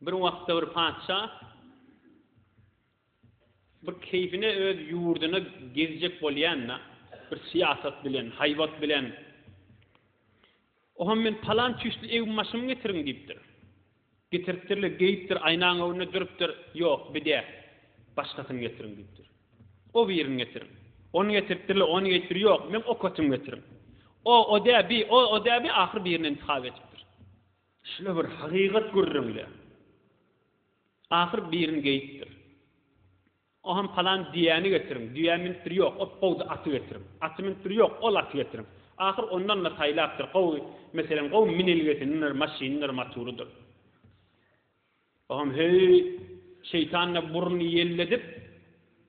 Bir wagtda bir patyşa bir keýfine öz ýurduna gezjek bolýanda, bir syýasat bilen, haýbat bilen, Oham men palan tüýsli egim-başymy getiriň diýipdir. Getiripdirler, geýipdir, aýnaň öňünde durupdyr, Ýok, bi däl. Başgasyny getiriň diýipdir. O birini getiriň. Ony getiripdirler, ony geýipdir, Ýok, meň okatymy getiriň. O, o däl, bi, o, o däl, bi, ahyry birini intihap edipdir. Şuna bir hakykat gürrüňle. Ahyr birini geýipdir. O hem palan düýäni getiriň, düýä minipdir, ýok, o gowdy aty getiriň. Aty minipdir, ýok, ol aty getiriň. Ahyr ondan-da saýlapdyr, gowy, meselem, gowy minilgesinidir, maşynydyr, maturydyr. O hem heý, şeýtan-da burnuny ýelledip,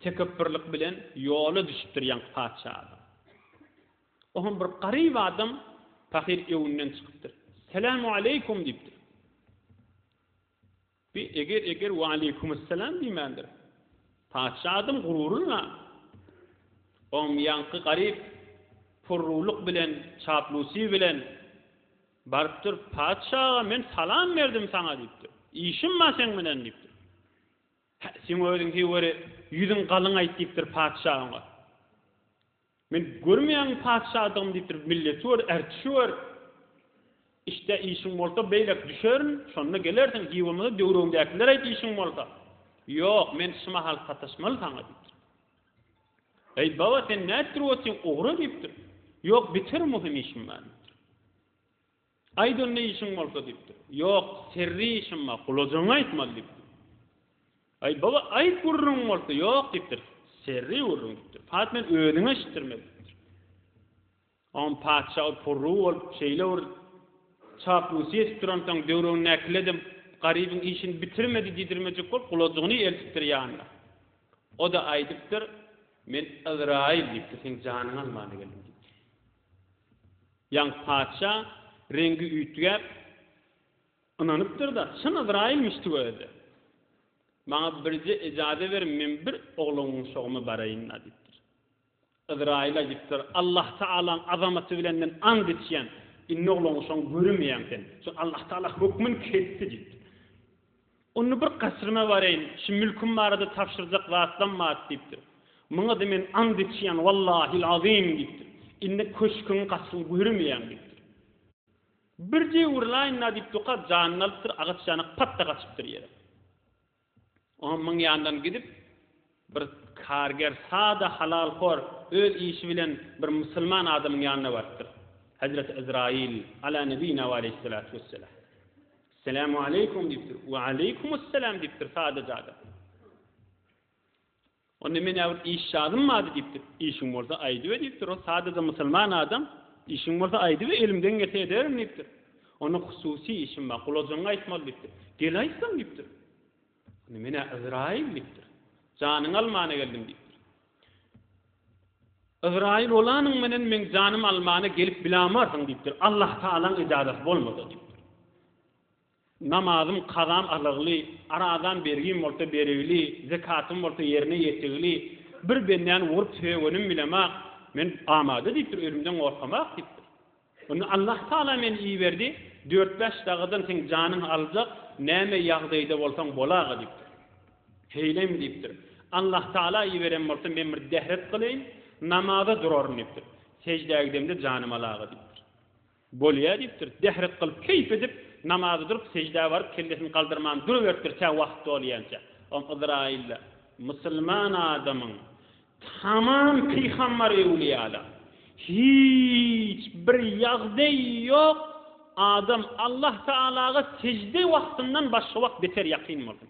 tekepbirlik bilen ýola düşüpdir ýaňky patyşa adam. O hem bir garyp adam pahyr öwünden çykypdyr. Selämu aleýkum diýipdir. Bi eger-eger we aleýkumysselam diýmändir. Patyşa adam gururynla o hem ýaňky garyp purrulyk bilen, çaplusy bilen barypdyr, Patyşa aga, men salam berdim saňa diýipdir. Işim bar seň bilen diýipdir. Hä, seň özüň heý weri, ýüzüň galyň aýt diýipdir patyşa oňa. Men görmeýäňmi patyşadygymy diýip durýar, milleti gör, ärtişi gör. Işde işiň bolsa beýläk düşerin, şonda gelersiň, hiç bolmasa döwregiňdäkilere aýt işiň bolsa. Ýok, men şu mahal sataşmaly saňa diýipdir. Eý, baba, sen nädip durup otyň, ogry, diýipdir. Ýok, biterim, möhüm işim bar, diýipdir. Aýt onda işiň bolsa diýipdir. Ýok, serri işim bar, gulajaňy aýtmaly diýipdir. Aý, baba, aýt gürrüňiň bolsa. Ýok diýipdir. Serri gürrüň diýipdir. Pat men özüňe eşitdirmeli diýipdir. Oňam patyşa ol purrugy bolup, şeýle bir çaplusy ýetip duransoň, döwregindäkiler de Garybyň işini bitirmedi diýdirmejek bolup, gulajagyny eltipdir ýanyna. O-da aýdypdyr, Men Yzraýyl diýipdir, seň janyňy almana geldim diýipdir. Ýaňky patyşa reňgi üýtgäp, ynanypdyr-da, çyn Yzraýylmyş tüweledi. Maňa birje ejaze beriň, men bir oglanguwşagyma baraýyn-da, diýipdir. Yzraýyl aýdypdyr, Allahtagalaň azamaty bilenden ant içýän, indi oglanguwşagyňy göremeýäň sen. Çünki Allahtagala hökmün kesdi, diýipdir. Onda bir gaçryma bareýin, şu mülküm barada tabşyrjak zatlam bar, diýipdir. Muňa-da men ant içýän, wallahil azym, diýipdir. Indi köşgüň gaçyny görmeýän, diýipdir. Birje urlaýyn-da, diýip, Duka janyny alypdyr, agaç ýanak pat-da gaçypdyr ýere. Oňa myň ýandan gidip. Bir karger sada halalhor öz işi bilen bir musulman adamyň ýanyna barypdyr. Hezreti Ezraýyl, Ala nebina we aleýhissalatu wesselam. Esselamu aleýkum diýipdir. We aleýkumusselam diýipdir sadaja adam. Onda menä bir iş jadym bady diýipdir. Işiň bolsa aýdybe diýipdir. Ol sadaja musulman adam, işiň bolsa aýdybe elimden gelse ederin diýipdir. Onda hususy işim bar, gulajaňy aýtmaly diýipdir. Gel aýtsam diýipdir. Indi menä Yzraýyl diýipdir. Janyňy almana geldim diýipdir. Yzraýyl bolanyň menen meň janymy almana gelip bilamarsyň diýipdir. Allah Tagalaň ijazasy bolmasa diýipdir. Namazym, kazam alagly, arazam, bergim bolsa berigli, zekatym bolsa ýerine ýetigli, bir bendäni urup sögenim bilemak, men amada diýipdir, ölümden gorkamak diýipdir. Onda Allahtagala meni iberdi, dört-bäş sagadan seň janyňy aljak, näme ýagdaýda bolsaň bol-aga diýipdir. Heýleýin diýipdir. Allahtagala iberen bolsa men bir dehret gylaýyn, namaza duraryn diýipdir. Seždä gidemde janym al-aga diýipdir. Bolýa diýipdir. Dehret gylyp, keýp edip, namaza durup, seždä baryp, kellesini galdyrman duruberipdir tä wagt dolýança. Oňa Yzraýyl-da, Musulman adamyň Tamam pygamber-ewliýada hiç bir ýagdaý ýok, adam Allah Tagalaga sejde wagtyndan başga wagt beter ýakyn bolsun.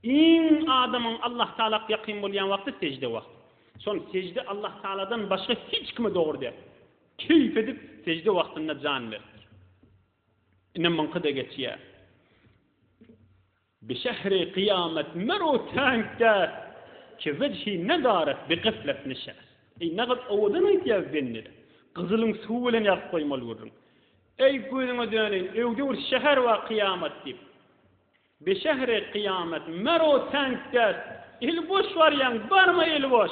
Iň adamyň Allah Tagalak ýakyn bolýan wagty sejde wagty. Şol sejde Allah Tagaladan başga hiç kime dogry däl. Keýp edip sejde wagtynda jan beripdir. Ine muňky-da geçýär. Bi şehri kyýamet meru tänk däs, Ki wejhi nezaret bi gaflet nişäs. Eý, nähak owadan aýtýar bende-de, Gyzylyň suwy bilen ýazyp goýmaly gürrüň. Eý, gözüňe döneýin, öwde bir şäher bar kyýamat diýip. Bi şehri kyýamet meru tänk däs, Eli boş barýaň, barma eli boş.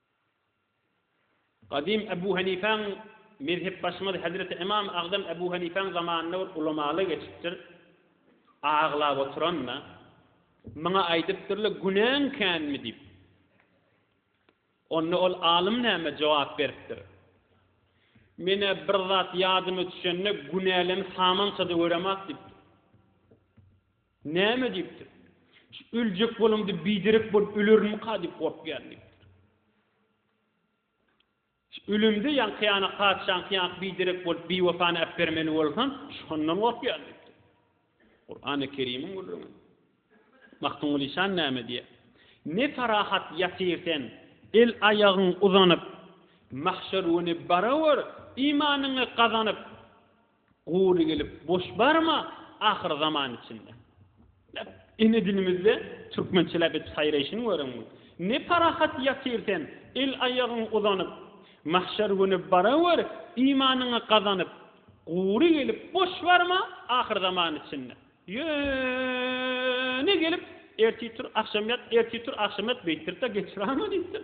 Gadym Ebu Hanifäň, mezhepbaşymyz hezreti Ymam Agdam Ebu Hanifäň zamanynda bir ulamaly geçipdir. Aglap oturanda, muňa aýdypdyr-la, Günäň känmi? diýip. Onda ol alym näme jogap beripdir? Men-ä bir zat ýadyma düşende günälem samança-da göremok diýipdir. Näme diýipdir? Şu öljek bolamda biderek bolup ölerinmika diýip gorkýan diýipdir. Şu ölemde ýaňkyýana patyşaňky ýaňky biderek bolup biwepany äpbermeli bolsam, şondan gorkýan diýipdir. Kurany Kerimiň gürrüňi. Magtymguly şan näme diýýär? Ne parahat ýatyr sen, el-aýagyň uzanyp, Mahşer güni barawor, imanyňy gazanyp, Gury gelip boş barma ahyr zaman içinde. Läp ene dilimizde türkmençe läp edip saýraýşyny göreň bu. Ne parahat ýatyr sen el aýagyň uzanyp mahşer güni barawer imanyňy gazanyp gury gelip boş barma ahyr zaman içinde. Ýöne gelip ertir tur agşam ýat ertir tur agşam ýat beýtdiripdir geçiranma diýipdir.